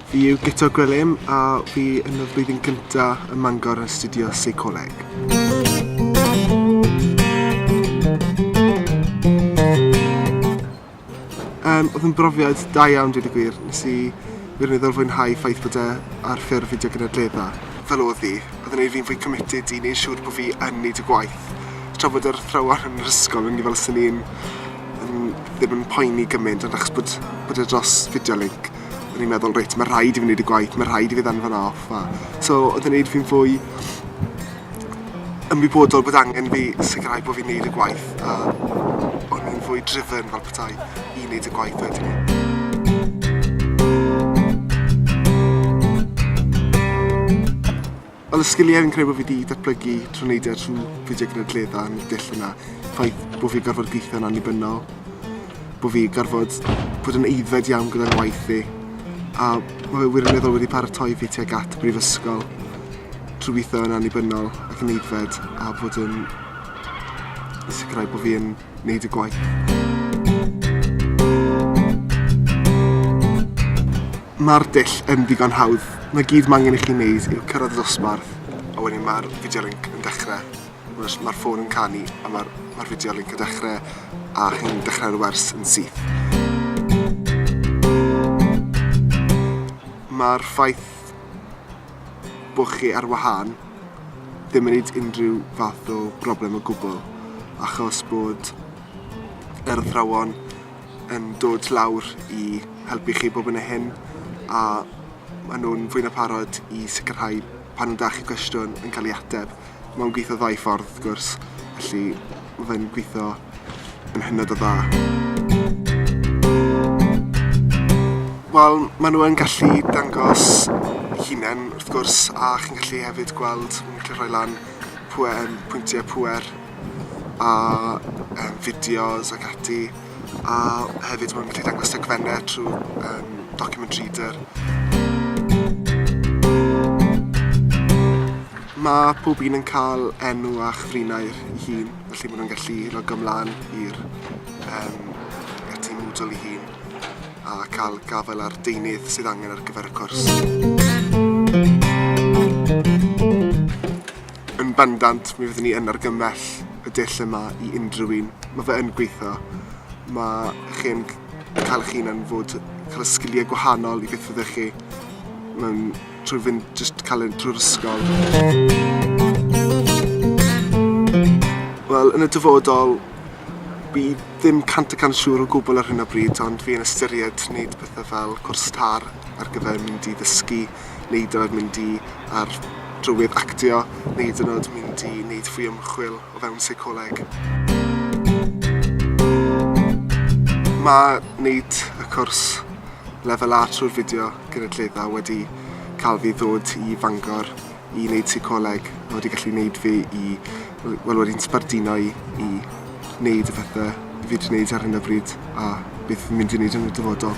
Fi yw Guto Gwilym a fi yn y flwyddyn gynta ym Mangor yn astudio Seicoleg. Yym oedd yn brofiad da iawn dweud y gwir. Nes i wirioneddol fwynhau ffaith bod e ar ffurf fideo gynadledda. Fel oedd hi, oedd yn gwneud fi'n fwy committed i wneud siŵr bod fi yn wneud y gwaith. Tra bod yr athrawon yn yr ysgol o'n i fel 'swn i'n yn ddim yn poeni gymaint ond achos bod bod e dros fideo linc o'n i'n meddwl reit ma' rhaid i fi wneud y gwaith ma' rhaid i fi ddanfon e off a so oedd yn neud fi'n fwy ymwybodol bod angen fi sicrhau bod fi'n neud y gwaith a o'n i'n fwy driven fel petai i neud y gwaith wedyn. Wel y sgiliau fi'n credu bod fi wedi datblygu trwy wneud e trwy fideo gynadledda yn y dull yna. Ffaith bod fi'n gorfod gweithio'n annibynnol, bod fi gorfod bod yn eiddfed iawn gyda'n waith fi, a mae fe wirioneddol wedi paratoi fi tuag at y brifysgol. trwy weithio yn annibynnol ac yn aeddfed a bod yn sicrhau bod fi yn wneud y gwaith. Mae'r dull yn ddigon hawdd. Mae gyd mae angen i chi wneud yw cyrraedd y dosbarth a wedyn mae'r fideo link yn dechrau. Mae'r ma ffôn yn canu a mae'r ma fideo link yn dechrau a chi'n dechrau'r wers yn syth. Mae'r ffaith bod chi ar wahân, ddim yn neud unrhyw fath o broblem o gwbl, achos bod yr athrawon yn dod lawr i helpu chi bob hyn a hyn, a maen nhw'n fwy na pharod i sicrhau pan nhw'n dal chi cwestiwn yn cael ei ateb. Mae'n gweithio ddau ffordd wrth gwrs, felly mae fe'n gweithio yn hynod o dda. Wel, maen nhw yn gallu dangos hunain wrth gwrs a chi'n gallu hefyd gweld, maen nhw'n gallu rhoi lan pwe- yym pwyntiau pŵer a yym fideos ac ati. a hefyd maen nhw'n gallu dangos dogfennau trwy um, document reader. Mae pob un yn cael enw a chyfrinau ei hun, felly maen nhw'n gallu logo ymlaen i'r um, tîm Moodle ei hun a cael gafael ar deunydd sydd angen ar gyfer y cwrs. Yn bendant, mi fyddwn ni yn argymell y dull yma i unrhyw un. Mae fe yn gweithio. Mae chi'n cael eich hunan fod, cael y sgiliau gwahanol i beth fyddech chi mewn trwy fynd jyst cael ein trwy'r ysgol. Wel, yn y dyfodol, fi ddim cant y cant siŵr o gwbl ar hyn o bryd, ond fi yn ystyried wneud pethau fel cwrs tar ar gyfer mynd i ddysgu neud o oedd mynd i ar drywydd actio neu hyd yn o'd mynd i neud fwy o ymchwil o fewn seicoleg. Mae neud y cwrs lefel A trwy'r fideo gynulleidfa wedi cael fi ddod i Fangor i neud seicoleg a wedi gallu neud fi i Wel wedi'n sbarduno i i wneud y pethau fi wedi wneud ar hyn o bryd a beth fi'n mynd i wneud yn y dyfodol.